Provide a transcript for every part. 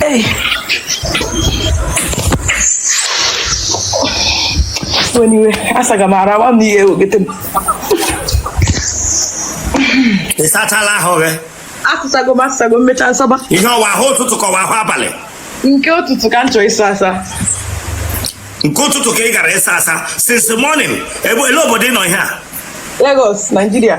Ey. Anyway, asaga m ara nwa m ihe wegete m. ị sachala ahụ gị Asago m asago m mechaa m saba. ihe ọ wụ ahụ ụtụtụ ka ọ wụ ahụ abalị Nke ụtụtụ ka m chọrọ ịsa asa. nke ụtụtụ ka ị gara ịsa asa since morning ebe olee obodo ị nọ ihe a Lagos, Nigeria.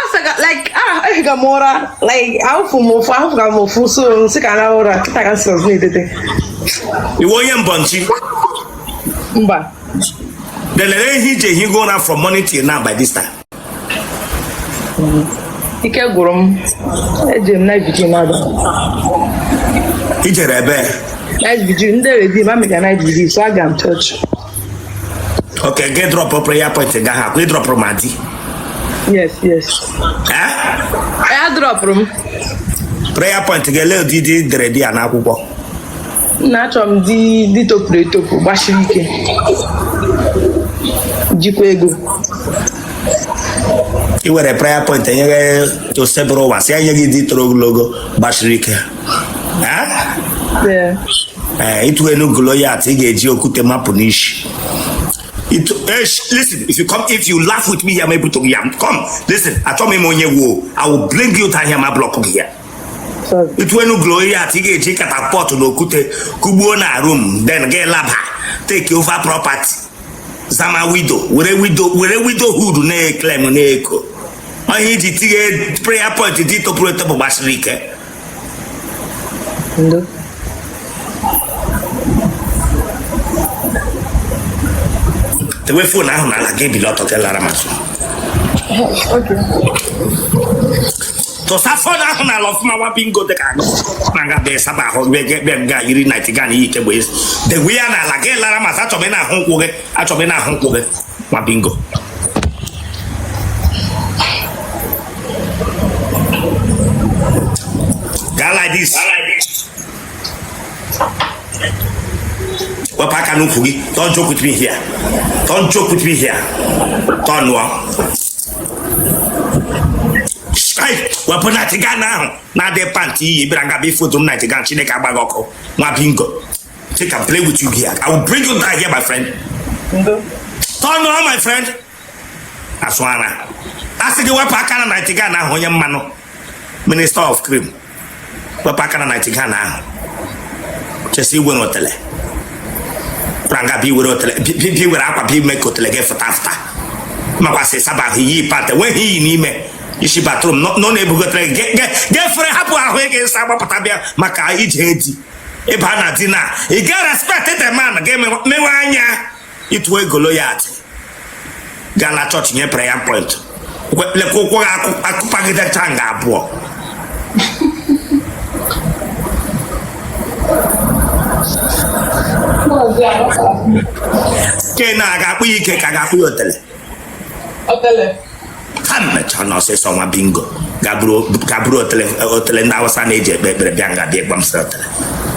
asaga like ah ehiga m ụra like ahụ fụ m ụfụ ahụ fụga m ụfụ so m sị ka m raa ụra kịta ka m si ọzọ na-etete ị wụ onye mbọnchi mba delere ihe i ji ehigo ụra from morning till now by this time ike gwụrụ m eje m night vigil n'abalị i jere ebe night vigil ndị Redeemer mega night vigil so aga m chọọchị ok gị drọpụ prayer point gị ahụ ị drọpụrụ ma di yes yes Eh? ee adrọpụrụ m prayer point gị ele ụdị di ị dere dee ya n'akwụkwọ na achọrọ m di di topuru etopu gbasiri ike jikwa ego i were prayer point nyere Osebụrụwa sị ya nye gị di toro ogologo gbasiri ike Eh? Ee. ee ịtụ elu Goliath ị ga-eji okwute mapụ n'isi Itu- eh, sh- listen if you come if you laugh with me here ma ebutu gị here come listen achọ m ịma onye ị wụ o i will bring you down here ma block gị here Sorry. ịtụ elu Goliath ị ga-eji catapult na okwute kụgbuo na room then gị laba take over property zama widow were widow were widowhood na-eclaim na-eko ihe i ji tinye prayer point di topuru etopu gbasiri ike Dewe phone ahụ n'ala gị ebili ọtọ gị lara m azụ. Tụsa phone ahụ n'ala ọfụma nwa bingo dị ka gị na nga bee saba ahụ bee gị bee nga yiri nightgown i yi kegbe ezi. Dewe ya n'ala gị lara m azụ achọ m ịna-ahụ ụkwụ gị achọ m ịna-ahụ ụkwụ gị. nwa bingo gaa like this wepụ aka n'ukwu gị don't joke with me here don't joke with me here don't nụọ wepụ nightgown ahụ na-adị pant i yi bịara ngaba ifoto m nightgown chineke agba gị ọkụ nwa bingo She can play with you here. I will bring you down here, my friend. Turn on, my friend. Aswana. Asị gị wepụ aka na night gown ahụ onye mmanụ minister of cream wepụ aka na night gown ahụ chesi igwe n'otele pranga bi were otele bi were akwa bi mee ka otele gị fụta fụta makwasị saba ahụ iyi pata nweghị iyi n'ime isi bathroom nọ na-ebugotere gị gị fere hapụ ahụ ị ga-asa gbapụta bịa maka ije di ị ba na di na ị ga respect the man ga-emewe anya ịtụ ego loyalty gaa na chọọchị nye prayer point lekwa ụkwụ gị akụpagidecha nga abụọ ke na-aga akpụ ya ike ka ga-akpụ ya otele ha mechaa na ọsịsọ nwa bingo ga bụrụ otele ndị Awụsa na-eji ekpe ekpere bịa nga bịa gbamsị otele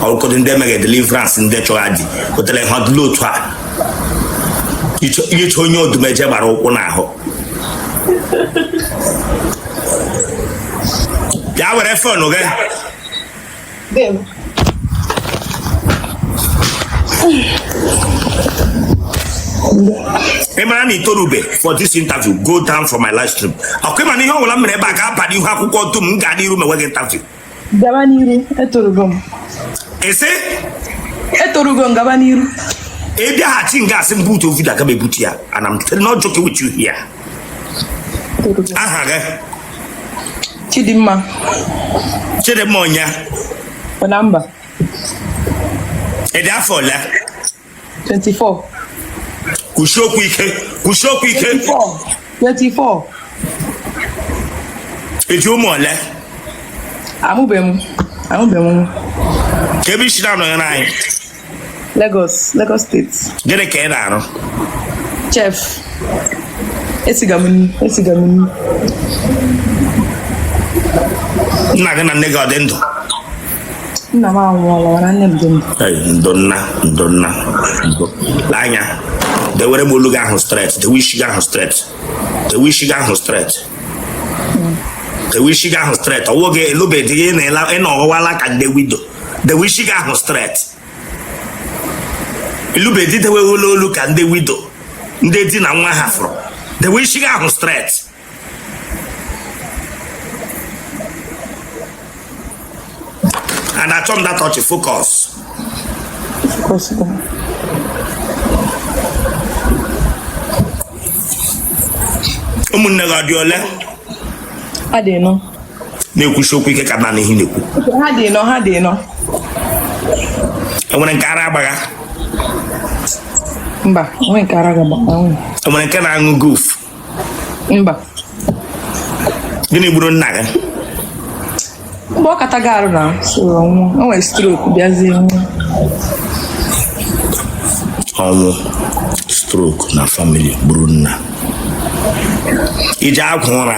ọkụkọdụ ndị emeghị deliverance ndị chọrọ di otele ha dịla otu a i che onye Odumeje gbara ụkwụ n'ahụ ya were fon gị dee m ị mara na i torube for this interview go down for my live stream okay ị ma na ihe ọbụla m mere ebe a ga-aba n'ihu akwụkwọ dum m ga-adị iru mewe gị interview gaba n'iru etorugo m ị sị etorugo m gaba n'iru ị bịaghachi nga asị m butuo video aga m ebutu ya and I'm not joking with you here aha gị Chidimma Chidimma onye Ọnamba ị dị afọ ole 24 kwusie okwu ike kwusie okwu ike 24 i ji ụmụ ole amụbeghị m amụbeghị m kee ebe i si na-ajoin anyị Lagos, Lagos steeti. Gịnị ka ị na-arụ? Chef. Esiga m nri, esiga m nri. Nna gị na nne gị ọ dị ndụ? Nna m anwụọla mana nne m dị ndụ. Ndo nna, ndo nna, ndo. Lee anya, dewere m olu gị ahụ straight, dewe isi gị ahụ straight, dewe isi gị ahụ straight. Dewe isi gị ahụ straight, ọ wụ gị ị lụbe di gị ị nọ ọ wụwala ka ndị widow. dewe isi gị ahụ straight ị lụbe di deweghela olu ka ndị widow ndị di na nwa hafụrụ dewe isi gị ahụ straight and achọ m datọchi focus ụmụnne gị ọ dị ole na-ekwusi okwu ike ka m nụ ihe ị na-ekwu enwere nke ara agbagha mba enwere nke ara agbagha enwere nke na-aṅụ gof mba gịnị gburu nna gị mgbe ọ kataga arụ na soro ọnwụ o nwere stroke bịazie nwụọ ọnwụ stroke na family gburu nna iji agwa ụra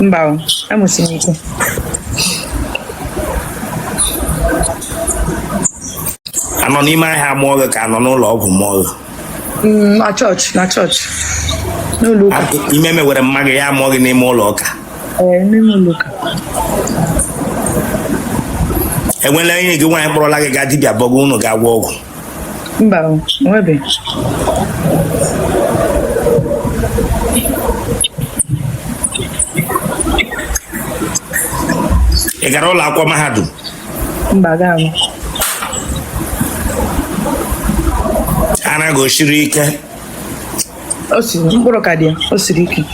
mba amụsi m ike anọ n'ime ahịa mụọ gị ka anọ n'ụlọ ọgwụ mụọ gị mm, na chọọchị na chọọchị n'ụlọ ụka ime mewere mma gị ya mụọ gị n'ime ụlọ ụka n'ime ụlọ ụka enwela enyi gị nwaanyị kpọrọla gị gaa dibịa bọgụ unu ga-agwọ ọgwụ mba o nwebeghị ị gara ụlọ akwụkwọ mahadum mba agaghị m ara gị o siri ike O si mkpụrụ ka dị ya, o siri ike.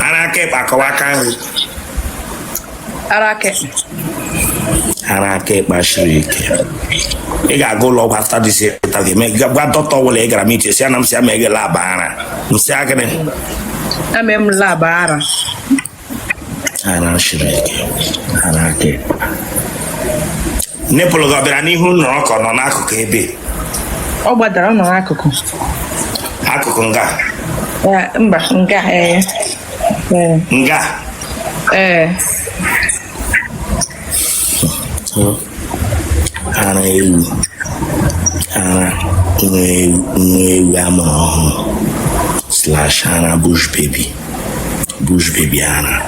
ara aka ekpe ka ọ wụ aka nri Ara aka ekpe. ara aka ekpe siri ike ị ga-aga ụlọ ọgwụ after this ta ga-eme ga- gwa dọkịta ọbụla ị gara m iche si ya na m si ya ma eghe laba ara m si ya gịnị Ame m laba ara. ara siri ike ara aka ekpe nipple gị ọ bịara n'ihu nọrọ ka ọ nọ n'akụkụ ebe ọ gbadara ọ nọ n'akụkụ akụkụ nga Eh, mba nga ee ee nga ee ara ewu ara nwa ewu nwa ewu a mụrụ ọhụrụ slash ara bush baby bush baby ara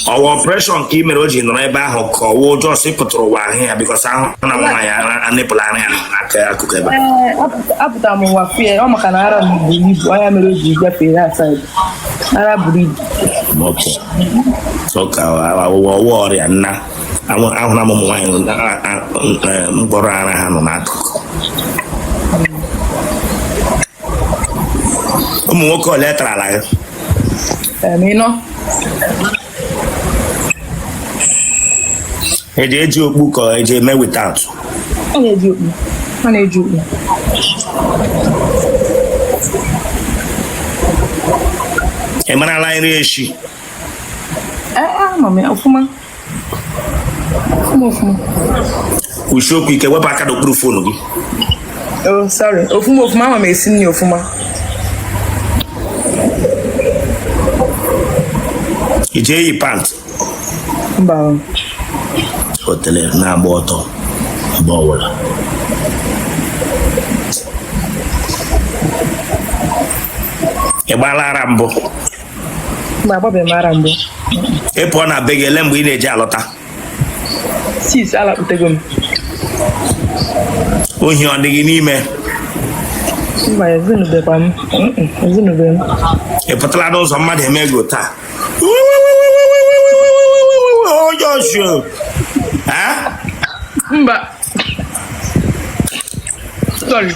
ọ wụ operation ka i mere o ji nọrọ ebe ahụ ka ọ wụ ụjọ si pụtara ụwa ahụ ya because ahụna m nwaanyị nipple ara ya n'aka akụkụ ebe a. Ee, apụta- apụtara m ụwa fie ọ maka na ara m buru ibu ọ ya mere o ji gafee ya aside ara buru ibu ọ wụ ọrịa nna ahụla m ụmụ nwaanyị mkpụrụ ara ha nọ n'akụkụ ụmụ nwoke ole tarala ya eji eji okpu ka eji eme without ọ na-eji okpu ọ na-eji okpu ị marala nri esi ee ama m ya ọfụma ọfụma ọfụma kwusie okwu ike wepụ aka n'okpuru phone gị Oh, sorry. Ọfụma ọfụma ama m esi nri ọfụma. I ji eyi pant? Mba. Otele na-agba ọtọ mgbe ọbụla. Ị gbaala ara mbụ? Mba, agbabeghị m ara mbụ. Ị pụọ na be gị ele mgbe ị na-eji alọta? six alakputego m ohi ọ dị gị n'ime mba ezinụbekwa m Mm-mm, ezinụbe m ị pụtara n'ụzọ mmadụ emego taa onye ọchụ Eh? mba sorry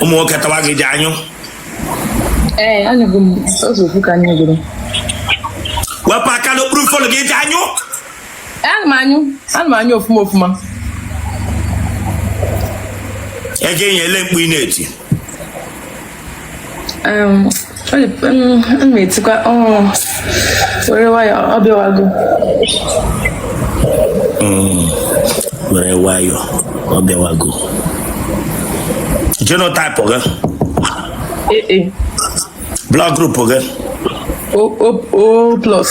ụmụ nwoke tawa gị ji anyụ ee anyụgo m ụzọ ofu ka anyị gụrụ wepụ aka n'okpuru fon gị ji anyụ ana m anyụ ana m anyụ ọfụma ọfụma ego enye ele mkpu ị na-eti etikwa were nwayọọ ọ bịawago were nwayọọ ọ bịawago genotype gị blood group gị o plus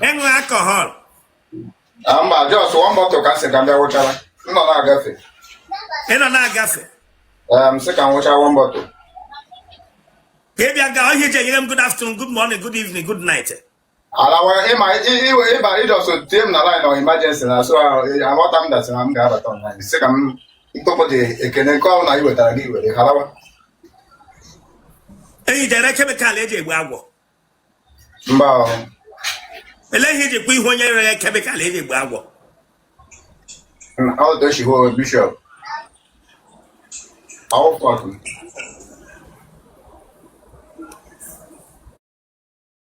ị ṅụ alcohol ah, mba just one bottle ka sị ka ndị wụchara m nọ na-agafe ị nọ na-agafe m sị ka m wụcha one bottle ka ị bịa gaa ọhịa eji enyere m good afternoon good morning good evening good night Alawa ịma iwe ịba ị just tie m na line ọ emergency na so aghọta m dasị na m ga-abata online sị ka m tụpụ dị ekene nke ọbụla i wetara gị were alawa Eyi dere kemikal eji egbu agwọ. mba ọ, Ele ihe iji kwa ihu onye rere kemikal eji egbu agwọ. na- ọ dị ochibo bishọp ọwụfọdụ